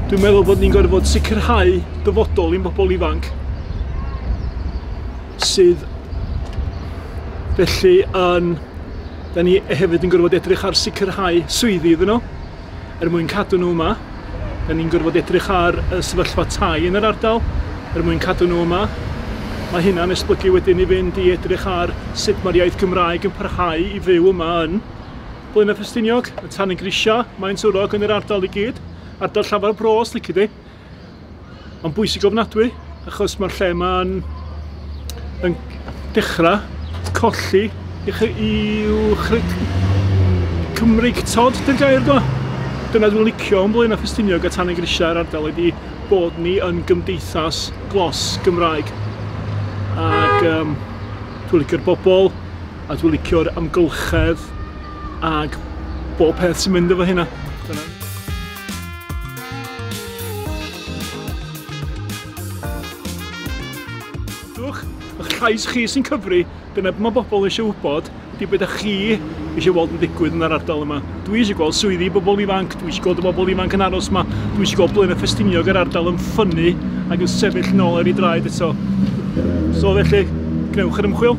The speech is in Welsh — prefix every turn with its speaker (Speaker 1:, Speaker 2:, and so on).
Speaker 1: Dwi'n meddwl bod ni'n gorfod bod sicrhau dyfodol i'n bobl ifanc sydd felly yn... Da ni hefyd yn gorfod edrych ar sicrhau swyddi iddyn nhw. er mwyn cadw nhw yma. Da ni'n gorfod edrych ar y sefyllfa tai yn yr ardal er mwyn cadw nhw yma. Mae hynna'n esblygu wedyn i fynd i edrych ar sut mae'r iaith Gymraeg yn parhau i fyw yma yn Blaenau Ffestiniog, y Tan y Grisiau, Maen Twrog yn yr ardal i gyd, ardal llafar bro os lici di. Mae'n bwysig ofnadwy achos mae'r lle yma'n yn dechrau colli i'w chryd... Cymreig tod, dy'r gair do? Dyna dwi'n licio yn Blaenau Ffestiniog a Tan y Grisiau a'r ardal ydi bod ni yn gymdeithas glos Gymraeg. Ac um, dwi'n licio'r bobl a dwi'n licio'r amgylchedd ac bob peth sy'n mynd efo hynna. Dwch, eich llais chi sy'n cyfri, dyna beth mae bobl eisiau wybod, di beth chi eisiau weld yn digwydd yn yr ardal yma. Dwi eisiau gweld swyddi i bobl ifanc, dwi eisiau gweld y bobl ifanc yn aros yma, dwi eisiau gweld Blaenau Ffestiniog yr ardal yn ffynnu ac yn sefyll yn ôl ar ei draed eto. So felly, gwnewch yr ymchwil.